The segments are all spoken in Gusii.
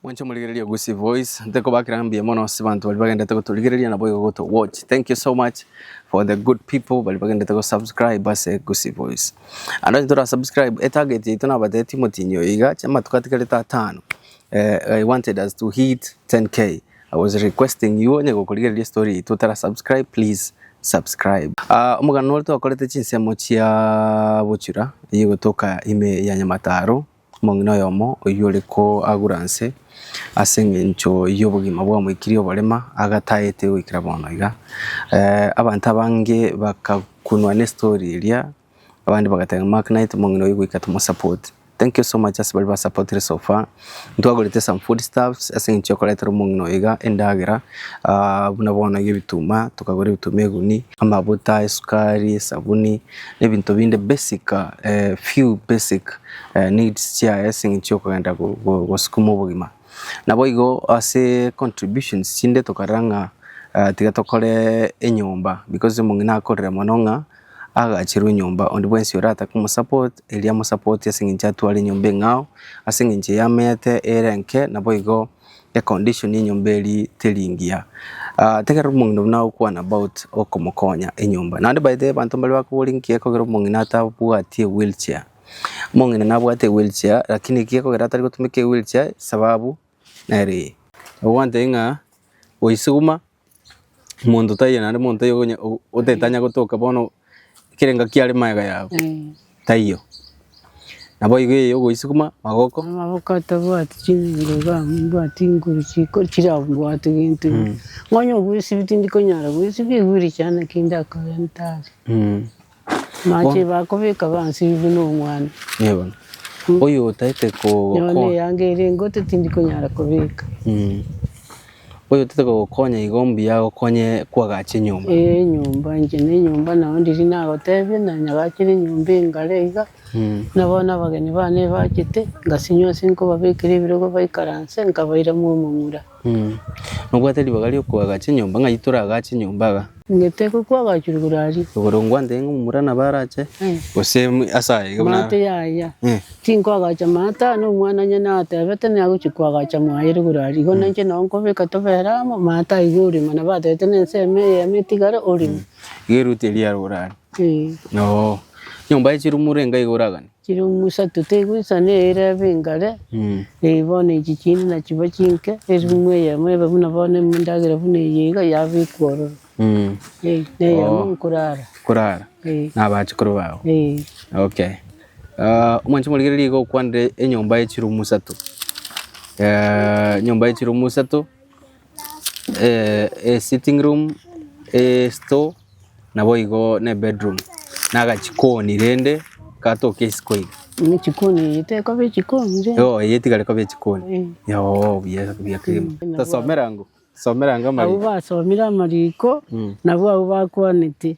Mwanche omorigereria Gusii voice ntekobakera mbuya mono ase abanto baria bagendete gotorigereria na boigo goto watch thank you so much for the good people baria bagendete go subscribe ase Gusii voice ande onye tora subscribe etarget yaito nabateeti omotinyi oyo iga chia amatuko atigarete atano eh, I wanted us to hit 10k I was requesting you onye gokorigereria story yaito otara subscribe please subscribe Ah, omogano ore twakorete chinsemo chia bochura eye gotoka ime ya nyamataro Omong'ina oyomo oyio ore koagura nse ase engencho y'obogima bw'omoikiri oborema agataete goikera bono iga. Abanto abange bakakunwa ne story eria, abande bagateba ng'a Mark Knight omong'ina oyio goika tomo support. Thank you so much ase baria ba supportire so far. Ntwagorete some food stuffs ase engencho ya koretera omong'ina oyo iga endagera buna bono iga ebituma, tokagora ebituma egunia, amabuta, esukari, esabuni, Nebinto binde basic few basic needs chiaye ase eng'encho yokogenda gosukuma obogima. Naboigo ase contributions chinde tokarora ng'a tiga tokore enyomba because omong'ina akorire mono ng'a agacherwe enyomba onde bwensi orare komosupport erio amosupport ase eng'encho atware enyomba eng'ao ase eng'encho eamete ere enke naboigo. e condition enyomba eria teri engiya, taiga omong'ina buna agokwana about okomokonya enyomba. Naende by the way abanto mbari bakobora inki ekogera omong'ina atabwati ewheel chair. Omong'ina nabwate ewheel chair lakini eki ekogera atari gotumeka ewheel chair sababu nere eye. Nabo gwateba ng'a goisuguma. Omonto taiyo naende omonto taiyo onya o- otetanya gotoka bono kera engaki yare magega yabo, Eh, taiyo. Naboigo eye ogoisukuma magoko, amaboko atabwati chinguru iga mbwati inguru chiko chirabwate gento ime. Nonya obwesibiti ndikonyara bwesibia egwire chiana ki ndakore ntare. Amache bakobeka bansibie nomwana. Nigo bono. Oyo otaete Nyowe na kogokonya. eyange ere engote tindi konyara kobeka. Mm. Oyo otaete kogokonya igo mbuya agokonye kwagache enyomba. Ee enyomba inche na enyomba nao ndiri nagotebie na nyagachire enyomba engare iga, Mm. buna bono abageni bane ebachete, ngasinywa ase nkobabekera ebirogo baikaranse, nkabaira mwa omomura. Nobwate ribaga ri'okoaga chinyomba, ng'ai toragaa chinyomba iga? Ngeteekwa kwagachwa igoro aria. Igoro ngwanteire ng'a momura nabo arache, gose ase aye iga buna. Maate yaya. Tinkoagacha maate aa, nomwanane natebete niye agochia koagacha mwaye ere igoro aria. Igo nainche nao nkobeka tobere amo, maate aa iga orimo. Nabo atebete na ensemo eye eyemo etigare orimo. Iga eruti eria riarure aria. Ee. Nyomba ye chirumura enga iga oraganie? Chire omosato tegwesana eira ebe engare, ee bono echi chinde nachiba chinke, erimwe eyemo ebe buna bono endagera buna eye iga yabekwa ororo, ee, na eyemo Oh. nkorara. korara Ee, na abachukuru bao ee. okay Ah, omwancha omorigereria iga okwanire enyomba ye chirumu isato Eh, enyomba ye chirumu isato esitting room, estore, nabo igo ne ebedroom, na agachikoni rende gatoka isiko iga. Muna echikoni eye tekoba echikoni rende. Yooh eye tigari koba echikoni. Yooh buya buya kegima. Tosomere ang'o? Tosomere ang'o Abwo amariko? basomire amariko, nabwo abwo bakwanete.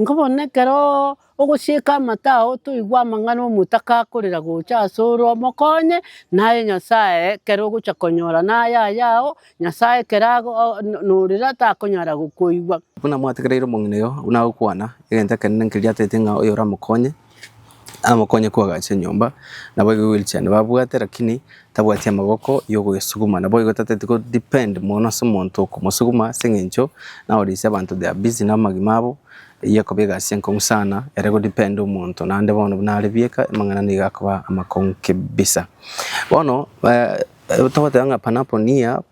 Nkobona ekero ogosieka amato ao toigwe amang'ana omotaka akorera gocha asore omokonye naye Nyasaye ekero ogocha konyora naye ayao Nyasaye ekero norire takonyara gokoigwa. Buna mwategereire omong'ina oyo, buna agokwana, egento ekenene nkeria ataete ng'a oyoramokonye, Namokonye koagacha enyomba, naboigo egweri chiane babwate lakini tabwati amaboko yogoyesuguma. Naboigo tateti go depend mono ase omonto okomosuguma ase eng'encho nao risia abanto they are busy namagima abo, eyio ekoba egasi enkong'u sana ere go depend omonto naende bono buna are bieka amang'ana nigo akoba amakong'u kebisa. Bono togoteba ng'a panapo nia.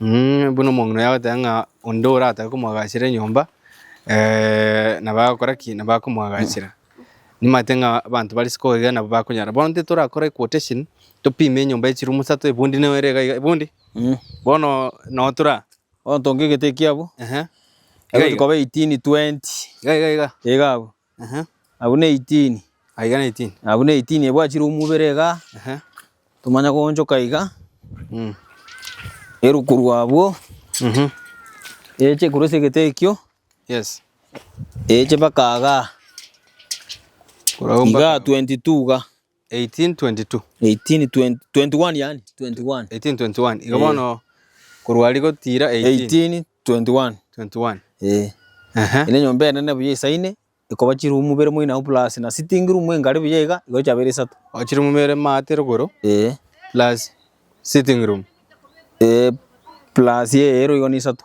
Buna omong'ina oyo agoteba ng'a onde oratake komoagachera enyomba, nabo agokora ki? Nabo akomoagachera. Nimanyete ng'a abanto bare isiko iga nabo bakonyara. Bono intwe torakore equotation, topime enyomba ya echirumu isato, ebundi nigo ere iga iga, ebundi? Bono noo tore aa? Bono tonka egete ekiabu, Ehe. Iga egotikoba eighteen, twenty. Iga iga iga. Iga abwo. Ehe. Abwo ne 18. Aiga ne 18. Abwo ne 18 ebwachire omobere iga, Ehe. tomanya goonchoka iga, Mm. eru korwa abwo, Mhm. eche korwa ase egete ekio, Yes. eche mpaka iga. Korwa abwo mpaka Iga abwo. 22 iga. 1822. 1821 yani 21 1821. Igo Eh. bono korwa aria gotiira 18. 1821 21. eh Ehe. ere enyomba enene buya esaine ekoba chirumu bere moino agwo plus na sitting room engare buya iga igo chiabere isato O chirumu bere maate rogoro eh plus sitting room. eh plus eyero igo nisato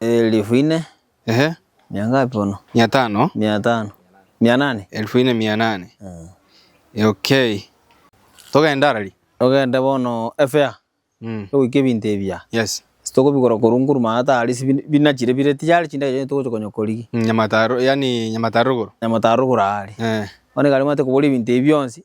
Elfu ine, Ehe, mia ngapi bono? mia tano, Mia tano, mia nane. elfu ine mia nane. Mm. Eh, Okay. Togende arari. Togende bono efea, Mm. togoika ebinto ebia. Yes. Tokobigora korwa nguruma atari ase bin- binachire bire tiyari chindagera chionsi togocha konya korigia. Nyamataro, yani Nyamataro rogoro. Nyamataro rogoro aria. Eh. Bono ekero omanyete kobora ebinto ebi bionsi,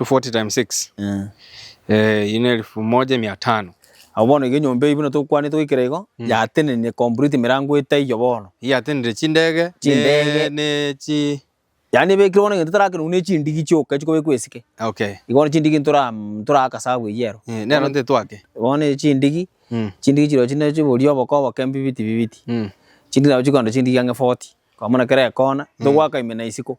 240 times 6 Eh. eh, ine elfu moja mia tano Abo bono iga enyomba eyio buna tokwanete goikera igo Mm. yatenenire complete emerango etaiyo bono. iyatenire chindege Chindege. ne, ne chi Yaani ebekire bono egento tarakerwa buna echindigi chioka echio kobekwa esike. okay Igo bono chindigi ntora ntoraka sabu eyio ero. Eh, nero ntitwake Bono echindigi Mm, chindigi chirochio ne chiboria oboko oboke mbibiti bibiti. mm, Chindigi nabo chikoenda chindigi ang'e 40. Kwa maana kera ekona Mm. togwaka ime na isiko.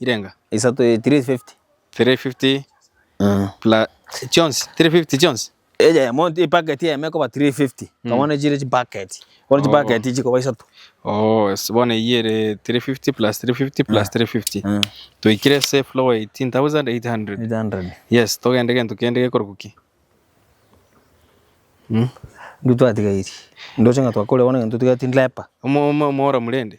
irenga. Isato eye 350. 350 Mm. pla chionsi 350 chionsi Eje emo epaketi eyemo ekoba 350. Kabone chire chipaketi. Bono Oh. chipaketi chikoba isato. oh yes bono eyio ere 350 plus 350 plus 350 Mm. toikire ase floor 18800 800. yes togende gento kende gekorokwa ki Mm. Intwe twatigairi. Ndoche ng'a twakorire bono egento totigaeti ndirepa. Omo- omo- omora murende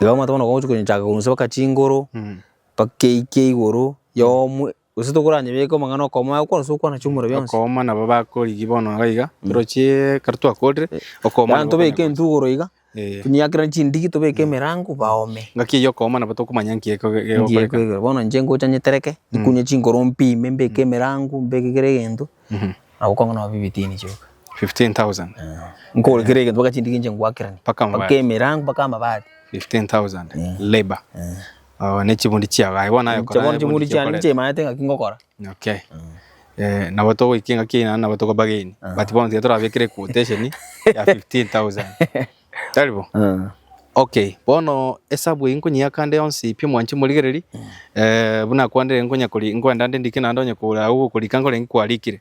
Iga omanyete bono gochi konyechaaka korwa nsebaka chinguru, mpaka eike igoro, yomo, gose tokoranyebeke omong'ana okomo aye okwane ase okwana chiomura bionsi. Okooma nabo bakorigia bono iga iga, torochie ekero twakorire, okooma Yaani nabo tobeke okonyegwa. intwe igoro iga, Eh. tonyakere chindigi, tobeke emerango, baome. Ngaki eyio okooma nabo tokomanya nki eko- Ngiye gegokoreka. kwegera, bono inche ngocha nyetereke, nyikunye chingoro mpime, mbeke emerango, mbeke kera egento, Nabo konge nonya bibitini chioka. 15,000. Nkore kera egento mpaka chindigi inche ngwakeranie. Mpaka amabati. Mpaka emerango mpaka amabati. 15,000. Eh. Labor. Eh. Oh, ne chibundi chiago. Aye bono ayo kora. Chabono chibundi chiani niche imanete ngaki ngokora. Okay. Mm. Eh, nabo togoiki ngaki ina nabo tokobageni. But bono tiga torabekire quotation ya 15,000. Taribo? Eh. Okay, bono esabu eye nkonyia kande yonsi pi omwanche morigereri eh, buna kwandire nkonya kori nkwenda nde ndike naende onye kora agwo korika nkore nkwarikire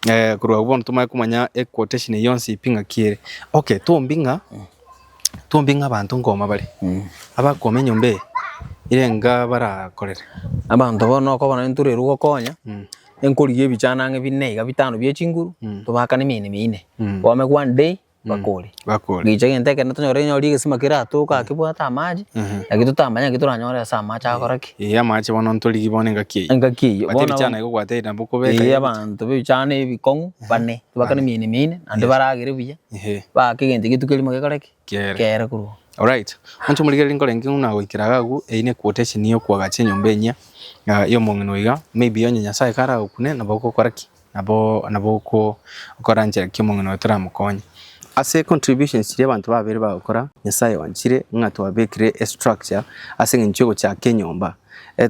eh, korwa agwo bono tomanye komanya e quotation eye yonsi pi ng'aki ere okay twombi ng'a twombi ng'a abanto nkoma bare Mm. abakoma enyomba eye ire nga barakorere abanto bono okobona ntorerwe gokonya Mm. enkorigia ebichana ang'e bine iga bitano bie chinguru Mm. tobakane emine mine Mm. kwame one day bakore. bakore. Gicha egento ekero tonyore onye ore egesima keratoke aa kebwate amache, Mhm. lakini totamanya naki toranyore ase amache agokora ki? Ee, amache bono ntorigi bono engaki eyio. Engaki eyio. But Bono ebichana abana- ekogwata nabo okobeka Ee, abanto b'ebichano ebikong'u bane, tibakane Bane. emino mine, naende Yes. baragere buya, Ehe, baake egento egetuko erimo gekore ki? kere. Kere korwa oo. Alright. Monto omorigereria nkorenge ng'a nagoikera iga agwo, eyio ne quotation ya okoagacha enyomba enyia, ah, ya omong'ina oiga, maybe onye Nyasae karagokune, nabo ogokora ki? Nabo nabo okoranchera ki omong'ina oye toramokonye. Ase contributions chiria abanto babere bagokora, Nyasaye oanchire ng'a twabekire e structure ase eng'encho y'ogochaka enyomba.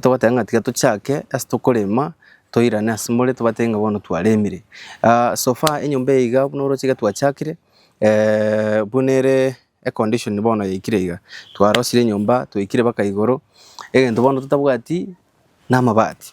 Togoteba ng'a tiga tochake ase tokorema toirane ase more tobatebie ng'a bono twaremire. So far enyomba eye iga buna oroche iga twachakire buna ere econdition bono yaikire iga. Twarosirie enyomba twaikire mpaka igoro egento bono totabwati namabati.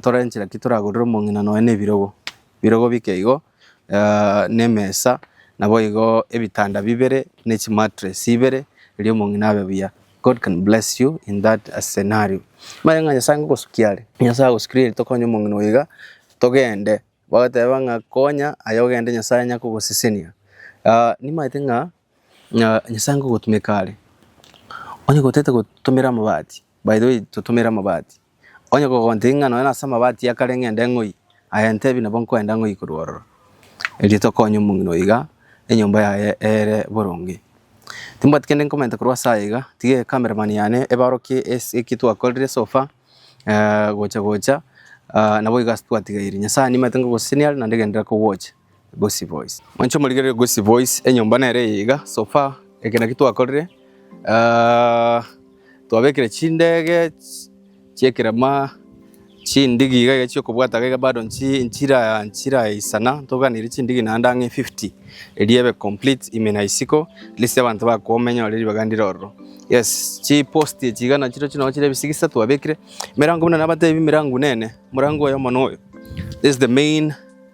Torenche naki toragorere omong'ina nonya na ebirogo, ebirogo bike igo, na emesa, nabo igo ebitanda bibere ne chimattress ibere erio omong'ina abe buya. God can bless you in that scenario. Omanye ng'a Nyasae ngogosukia are, Nyasae agosukirie ere tokonye omong'ina oyo iga, togende bagoteba ng'a konya aye ogende Nyasae anya kogosesenia. Nimanyete ng'a Nyasae ngogotumeka are, onye gotete gotumera amabati, by the way totumere amabati, Onye kogontiri ng'a nonya nase amabati ya kare ng'ende ng'oi, aye ntebi nabo nkoenda ng'oi korwa ororo, erioto konya omong'ina oiga enyomba yaye eere boronge. Timbwati kende nkomenta korwa ase aya iga, tiga ecamera man yane ebarokie ase eki twakorire so far gocha gocha, naboigo ase twatigaire. Nyasae nimanyete ngogosesenia naende genderera kogocha. Gusii Voice. Mwanche omorigererie Gusii Voice, enyomba nere eye iga, so far eke naki twakorire, ah, twabekire chindege ch- chi'ekerema chindigi iga iga chi'okobwata iga iga bado nchi- nchira nchiraisana, ntoganeirie chindigi naende ang'e fifty eria ebe complete ime na isiko, at least abanto bakomenya ore ribaga ndire ororo. Yes, chipost echi iga nachirochio nabo chire ebisigisa twabekire, emerango buna nabatebi emerango nene, omorango oyomo noyo, this is the main.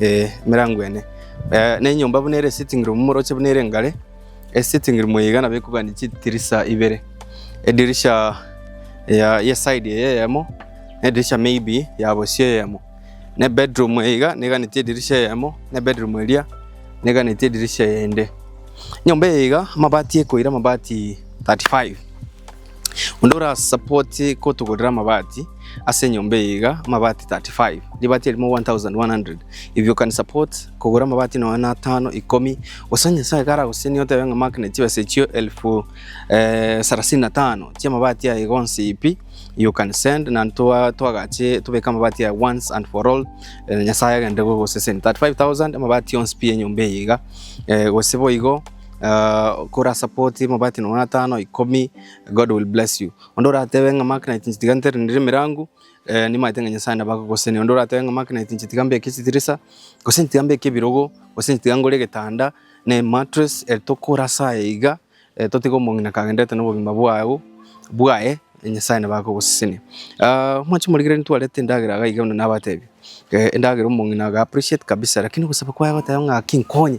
Ee, emerango ene. Eh, ne enyomba buna ere esitting room moroche buna ere engare. Esitting room eye igana bekogania chidirisa ibere. Edirisha ya ye side eye eyemo, ne edirisha maybe ya bosio eyemo. Ne bedroom eye iga neganetie edirisha eyemo, ne bedroom eria neganetie edirisha eyende. Nyomba eye iga amabati ekoira amabati 35. Onde ora support kotogorera amabati ase enyomba eye iga amabati 35 ribati erimo 1100 if you can support kogora amabati nonya na atano ikomi gose nyasaye karagosenie otebe ng'a mark ne chibesa echio elfu eh, sarasini na tano chia amabati aye gonsi ipi you can send na twa- twagache tobeka amabati aye once and for all eh, nyasaye agende gogoseseni 35000 amabati yonsi pi enyomba eye iga eh, gose boigo uh, kora support mabati nono atano ikomi god will bless you onde oratebe ng'a magnet nchitiga ntere ndire mirangu eh, nimaete ng'a nyasaye nabagogoseni onde oratebe ng'a magnet nchitiga mbeke chitirisa gose nchitiga mbeke ebirogo gose nchitiga ngore egetanda ne mattress eh, tokora saye iga eh, totiga omong'ina kagenderete nobogima bwao bwaye eh, nyasaye nabagogoseseni Ah, mwanche morigere ntwarete endagera iga iga buna nabatebi eh, endagera omong'ina aga appreciate kabisa lakini ogosaba kwaye goteba ng'a ki nkonye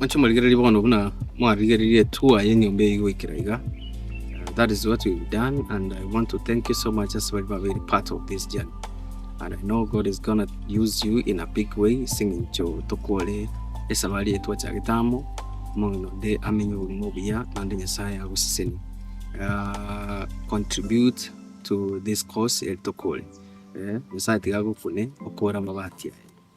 Inche morigererie bono buna mwarigereire tour yenyomba eye goikera iga that is what we've done and I want to thank you so much ase baria babeire part of this journey and I know God is gonna use you in a big way ase eng'encho tokore esabari eye twachagete amo amang'ana onde amenye obogima obuya naende Nyasae agosesenie ah, contribute to this cause eri tokore eh, Nyasae tiga agokune okore amabati aye.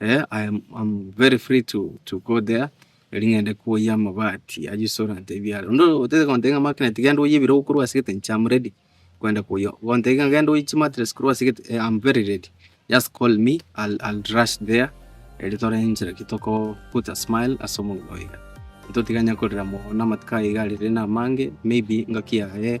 Eh, I am, I'm very free to, to go there. Eri ng'ende koyia amabati aywo restaurant ebiara. Onde otete kontebia ng'a Mark Knight genda oyie ebirogo korwa ase egete inche I'm ready kwenda koyia. Gontebia ng'a genda oyie chimattress korwa ase egete eh, I'm very ready. Just call me, I'll, I'll rush there erio tore enchera ki toko put a smile ase omobere oye iga. Totiganya korera mono amatuko aye iga arire na amange, maybe ngaki yaye.